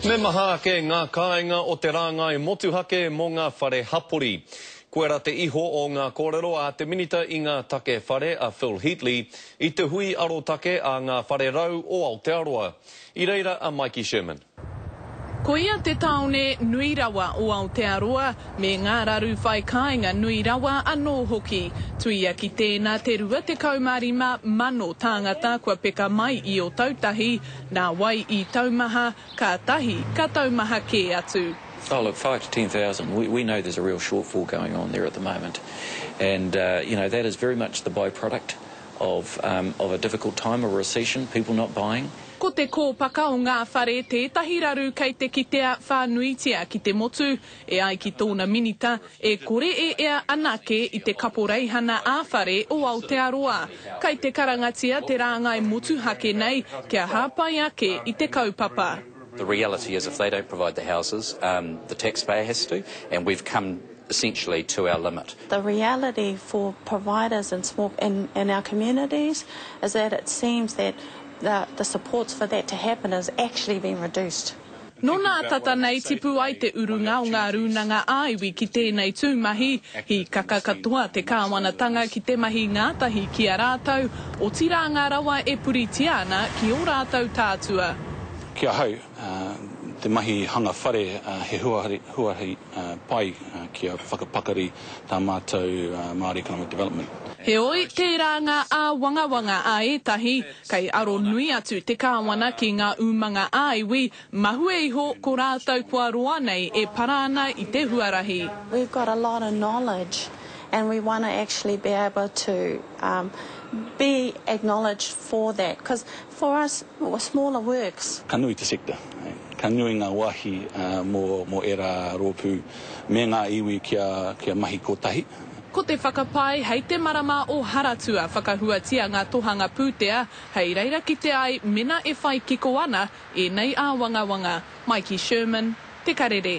Me maha ake ngā kāinga o te rāngai motuhake mō ngā whare hapori. Koirā te iho o ngā kōrero a te Minita i ngā Take Whare a Phil Heatley i te hui arotake a ngā whare rau o Aotearoa. I reira a Mikey Sherman. Ko ia te tāone nui rawa o Aotearoa, me ngā raru whai kāinga nui rawa anō hoki. Tuia ki tēnā te 25,000 tāngata kua peka mai i Otautahi, Nā wai i taumaha, ka tahi, ka taumaha kē atu. Oh look, five to ten thousand, we we know there's a real shortfall going on there at the moment and uh you know that is very much the by-product of um of a difficult time, a recession, people not buying. Ko te kōpaka o ngā whare tētahi raru kei te kitea whānuitia ki te motu, E ai ki tōna minita, e kore e ea anake i te Kaporeihana ā-Whare o Aotearoa. Kei te karangatia te rāngai motuhake nei kia hāpai ake i te kaupapa. The reality is if they don't provide the houses, um, the taxpayer has to, and we've come essentially to our limit. The reality for providers in small, in, in our communities is that it seems that the, the supports for that to happen has actually been reduced. Nō nā tata nei tipu ai te urunga o ngā rūnanga ā-iwi ki tēnei tū mahi. Hīkaka katoa te kāwanatanga ki te mahi ngātahi ki a rātou, otirā ngā rawa e puritia ana ki ō rātou tātua. Ki ahau, te mahi hanga whare he huarahi pai kia whakapakari tā mātou Māori Economic Development. Heoi, tērā ngā āwangawanga a ētahi, Kei aro nui atu te Kāwana ki ngā umanga ā-iwi, mahue iho ko rātou kua roa nei e para ana i te huarahi. We've got a lot of knowledge and we want to actually be able to be acknowledged for that because for us smaller works. Ka nui te sector, ka nui ngā wāhi mō ērā rōpū me ngā iwi kia mahi kotahi. Ko te whakapae hei te marama o Haratua whakahuatia ngā tohanga pūtea hei reira kite ai mena e whai kiko ana ēnei āwangawanga. Mai ki Sherman, Te Karere.